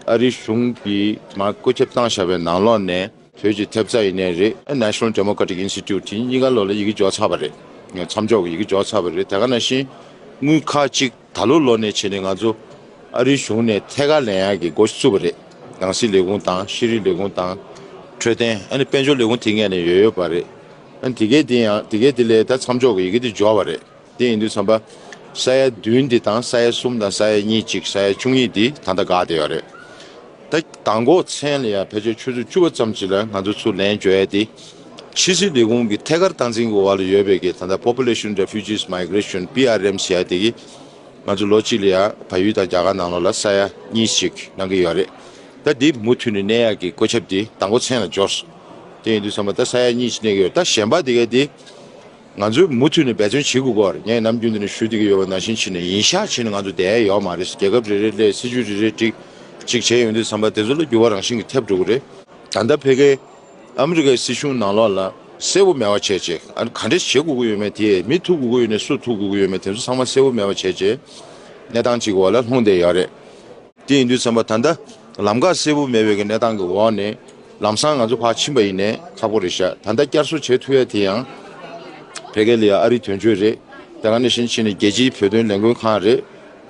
ཨ་རིའི་གཞུང་གིས་ང་བཀོད་ཁྱབ་བཏང་བཞག་པའི་ནང་ལོགས་ནས་བོད་ཀྱི་ཐེབས་རྩ་ཡིན་ནའི་རེད་ཨ National Democratic Institute དེ་གཉིས་ཀ་ལོགས་ལ་ཡི་གེ་འཇོག་ཚར་བ་རེད་མཚམས་འཇོག་གི་ཡི་གེ་འཇོག་ཚར་བ་རེད་དེ་ག་ནང་བཞིན་དངུལ་ཁག་གཅིག་ད་ལོ་ལོགས་ནས་བྱས་ནས་ང་ཚོ་ཨ་རིའི་གཞུང་ནས་ཐད་ཀར་ལན་ཡག་གི་འགོ་བཙུགས་པ་རེད་ནང་སྲིད་ལས་ཁུངས་དང་ཤེས་རིག་ལས་ཁུངས་དང། འཕྲོད་བསྟེན་ཨ་ནི་དཔལ་འབྱོར་ལས་ཁུངས་དེ་ངས་ནས་ཡོད་ཡོད་པ་རེད་ཨ་དེ་གས་དེ་ཡང་དེ་གས་དེ་ལས་ད་མཚམས་འཇོག་གི་ཡི་གེ་དེ་འཇོག་བ་རེད། དེ་ཡིན་དུས་བསམ་པ། ས་ཡ་བདུན་འདི་དང་ས་ཡ་གསུམ་དང་ས་ཡ་གཉིས་གཅིག་ས་ཡ་བཅུ་གཉིས་འདི་ད་ལྟ་དགའ་བསྡད་ཡོད་རེད། ད་ད་འགོ་མཚན་ལ་ཡང་བོད་ཆས་ཆུ་ཚོད་བཅུ་བ་ཙམ་ཞིག་ལ་ང་ཚོ་ཚུར་ལེན་བཅོལ་ཡས་ཏེ། ཕྱི་སྲིད་ལས་ཁུངས་ཀྱི་ཐད་ཀར་སྟངས་འཛིན་གྱི་འོག་ལ་ཡོད་པའི་གི་ད་ལྟ Population Refugees Migration PRM ཞེས་ཡས་དེ་གི། ང་ཚོ་ལོ་གཅིག་ལ་ཡང་བལ་ཡུལ་དང་རྒྱ་གར་ནང་ལོགས་ལ་ས་ཡ་གཉིས་གཅིག་གནང་གི་ཡོད་རེད། ད་འདི་མུ་མཐུད་ནས་གནས་ཡག་གི་བཀོད་ཁྱབ་འདི་ད་འགོ་མཚན་ལ་འབྱོར། དེ་ཡིན་དུས་བསམ་པ་ད་ས་ཡ་གཉིས་གཅིག་གནས་གི་ཡོད་ད་གཞན་པ་དེ་གའི་དེ། ང་ཚོས་མུ་མཐུད་ནས་འབད་བརྩོན་བྱེད་དགོས་སྐོར་ངས་ནམ་རྒྱུན་དུ་ནས་ཞུ་འདེགས་ཀྱི་ཡོད་པ་ནང་བཞིན་ཕྱི་ནས་ཡིན་ཤག་བྱས་ནས་ང་ཚོ་བསྡད་ཡོད་མ་རེད་རྒྱལ་ཁབ་རེ་རེ་སླད་སྲིད་ཇུས་རེ་རེ་སྒྲིག་གཅིག་བྱས་ཡོང་དུས་བསམ་པ་དེ་ཚོ་ལ་འགྱུར་བ་རང་བཞིན་གྱིས་ཐེབས་འགྲོ་གི་རེད། ད་ལྟ་ཕེ་ཁེ། ཨ་མི་རི་ཀའི་སྲིད་གཞུང་ནང་ལོགས་ལ་གསལ་བོ་མེད་བ་བྱས་རྗེས་ཨ་ནི་ག་འདྲས་བྱེད་དགོས་ཀྱི་ཡོད་མེད་དེ་མི་ཐུག་དགོས་ཀྱི་ཡོད་ནས་སུ་ཐུག་དགོས་ཀྱི་ཡོད་མེད་དེ་ཚོ་ཚང་མ་གསལ་བོ་མེད་བ་བྱས་རྗེས་གནས་སྟངས་གཅིག་གི་འོག་ལ་ལྷུང་བསྡད་ཡོད་རེད། དེ་ཡིན་དུས་ཚན་པ་ད་ལྟ་ལམ་ཁ་གསལ་བོ་མེད་པའི་གནས་སྟངས་ཀྱི་འོག་ནས་ལམ་སང་ང་ཚོ་ཕར་ཕྱིན་པ་ཡིན་ནས་ཁག་པོ་རེད་བཞག་ད་ལྟ་བསྐྱར་གསོ་བྱེད་ཐུབ་ཡ་དེ་ཡང་བལ་གལ་ཡ་ཨ་རི་དོན་གཅོད་རེད་དེ་ག་ནས་བཞིན་ཕྱིན་ནས་རྒྱལ་སྤྱིའི་བོད་དོན་ལས་འགུལ་ཁང་རེད་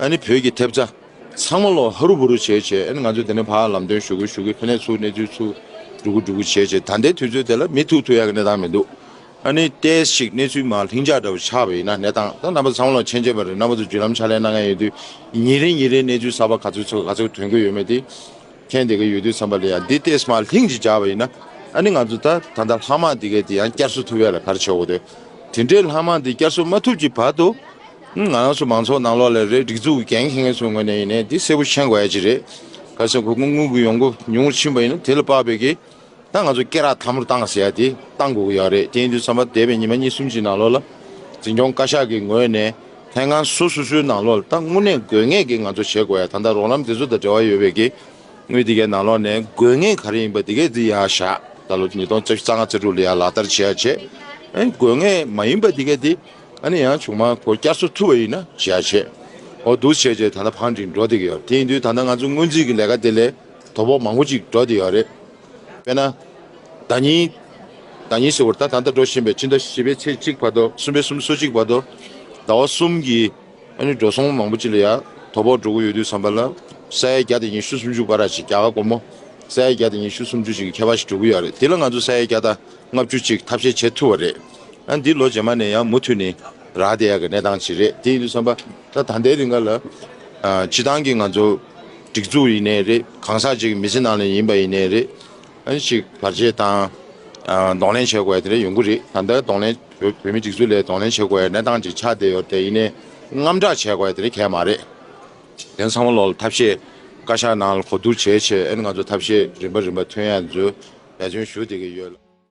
ཨ་ནི་བོད་ཀྱི་ཐེབས་རྩ་ཚང་མ་ལོག་ཧ་རུ་བུ་རུ་བྱས་བྱས་ཨ་ནི་ང་ཚོ་དེ་ནས་ཕར་ལམ་སྟོན་ཞུ་དགོས་ཞུ་དགོས་ཕན་ནས་ཚུགས་གནས་ཚུལ་ཚུགས་འགྲོ་དགོས་འགྲོ་དགོས་བྱས་བྱས་ད་ལྟའི་དུས་ཚོད་དེ་ལ་མི་ཐུག་ཐུག་ཡ་གི་གནས་སྟངས་མི་འདུག་ཨ་ནི་ལྟས་ཤིག་གནས་ཚུལ་མ་ལྷིང་འཇགས་འདྲ་བོ་ཆགས་པའི་ན་གནས་སྟངས་དང་རྣམ་པ་ཚང་མ་ལ་མཆན་འཇལ་བ་རེད་རྣམ་པ་ཚོ་བརྒྱུད་ལམ་ཕྱག་ལས་གནང་མཁན་ཡོད་དུས་ཉིན་རེ་ཉིན་རེའི་གནས་ཚུལ་གསར་པ་ག་ཚོད་ཚོད་ག་ཚོད་དོན་དགོས་ཡོད་མེད་དེ་མཁྱེན་བསྡད་ཀྱི་ཡོད་དུས་བསམ་པ་ལས་ཡང་འདི་ལྟས་མ་ལྷིང་ཅིག་འཇགས་པ་ཡིན་ན་ཨ་ནི་ང་ཚོ་ད་ད་ལྟ་ལྷག་མ་དེ་གས་དེ་ཡང་བསྐྱར་གསོ་ཐུབ་ཡ་ལ་ག་རེ་བྱེད་འོག་དེ་དེ་འདྲའི་ལྷག་མ་དེ་བསྐྱར་གསོ་མ་ཐུབ་ཀྱི་བར་དུ་ང་རང་ཚོ་མང་ཚོགས་ནང་ལོགས་ལས་རེས་སྒྲིག་འཛུགས་ཀྱི་འགན་འཁྱེར་མཁན་ཚོའི་ངོས་ནས་ཡིན་ནའི་དེ་གསལ་པོ་མཁྱེན་དགོས་ཡ་ཅིག་རེད་ག་ཚོད་ཁོ་ཁོ་དངུལ་གྱི་ཡོང་སྒོ་ཉུང་ཆིན་པ་ཡིན་ན་དེ་ལ་དཔག་པའི་གི། ད་ང་ཚོ་སྐེ་རགས་ཐ་མུར་བཏང་ཟེར་ཡ་དེ་བཏང་དགོས་ཀྱི་ཡག་རེད་དེ་ཡིན་དུས་བསམ་པ་འདས་པའི་ཉིན་མ་གཉིས་གསུམ་གྱི་ནང་ལོགས་ལ། འཛིན་སྐྱོང་བཀའ་ཤག་གི་ངོས་ནས་ཐེངས་ཁང་སོ་སོ་སོའི་ནང་ལོགས་ལ་ད་དངོས་གནས་དགོས་ངེས་ཀྱི་ང་ཚོ་བྱེད་དགོས་ཡ་ད་ལྟ་རོགས་ལམ་དེ་ཚོ་དང་འབྲེལ་བ་ཡོད་པའི་གི་དངུལ་དེ་གའི་ནང་ལོགས་ནས་དགོས་ངེས་ག་རེ་ཡིན་པ་དེ་གས་འཛིན་ཡ་བཞག་ད་ལོ་ཉིས་སྟོང་རྩ་བཞི་རྩ་ལྔ་རྩ་དྲུག་ལ་ཡ་ལག་བསྟར་བྱེད་ཡ་བྱེད། དགོས་ངེས་མ་ཡིན་པ་དེ་གས་དེ་ཨ་ནི་ཡང་བྱུང་མ་གོ་བསྐྱར་གསོ་ཐུབ་པ་ཡིན་ན་བྱེད་ཡ་བྱེད། འོ་འདུག་བྱས་བྱས་ད་ད་ཕང་འགྲིག་འགྲོ་བསྡད་ཀྱི་ཡོད་དེ་ཡིན་དུས་ད་ད་ང་ཚོ་སྔོན་རྩིས་ཀྱི་ལས་ཀ་དེ་ལས། དོགས་པ་མང་པོ་ཅིག་འདྲ་དེ་ཡང་རེད། དཔེར་ན། ཟླ་གཉིས། ཟླ་གཉིས་ཟེར་བར་ད་ད་ལྟ་འགྲོ་བཞིན་པའི་ཕྱི་ཟླ་བཞི་པའི་ཚེས་གཅིག་བར་དུ་གསུམ་པའི་གསུམ་སོ་གཅིག་བར་དུ། ཟླ་བ་གསུམ་གྱི། ཨ་ནི་འགྲོ་སོང་མང་པོ་ཅིག་ལ་ཡང་དོགས་པ་འགྲོ་གི་ཡོད་དུས་བསམ་པ་ལ། ས་ཡའི་རྒྱ་དེ་ཉིད་ཤུ་སུམ་ཅུ་ཀ་ར་ཅིག་རྒྱ་གར་སྒོར་མོ། ས་ཡའི་རྒྱ་དེ་ཉིད་ཤུ་སུམ་ཅུ་ཅིག་གི་ཁྱད་པར་ཞིག་འགྲོ་གི་ཡོད་རེད་དེ་ལ་ང་ཚོ་ས་ཡའི་རྒྱ་ཟླ་ལྔ་བཅུ་ཅིག་ཐབས་ཤེས་བྱེད་ཐུབ་བ་རེད། ཨ་ནི་འདི་ལོ་རྗེས་མ་ནས་ཡང་མུ་མཐུད་ནས་རག་བསྡད་ཡག་གི་གནས་སྟངས་ཅིག་རེད་དེ་ཡིན་དུས་བསམ་པ་ད་ད་ལྟའི་རིང་ག་ལ། སྤྱི་བཏང་གི་ང་ཚོ། སྒྲིག་འཛུགས་ཡིན་ནའི་རེད། གང་ཟག་གཅིག་གི་མི་ཚེ་ནང་ནས་ཡིན་པ་ཡིན་ནའི་རེད། ཨང་ཞིག་བར་ཆད་དང། གདོང་ལེན་བྱེད་དགོས་པ་དེ་འདྲ་ཡོང་གི་རེད། ད་ལྟ་གདོང་ལེན། བོད་མིའི་སྒྲིག་འཛུགས་ལས་གདོང་ལེན་བྱེད་དགོས་པའི་གནས་སྟངས་ཅིག་ཆགས་བསྡད་ཡོད་དེ་ཡིན་ནའི། དངངས་སྐྲག་བྱེད་དགོས་པ་དེ་འདྲ་གལ་མ་རེད། དེང་སང་བློ་ལ་ཐབས་ཤེས། བཀའ་ཤག་ནང་ལ་གོ་བསྡུར་བྱེད་ཆེད་ཨེ་ནི་ང་ཚོ་ཐབས་ཤེས་རིམ་པ་རིམ་པ་ཐོན་ཡ་མཛོད་འབད་བརྩོན་ཞུ་བསྡད་ཀྱི་ཡོད།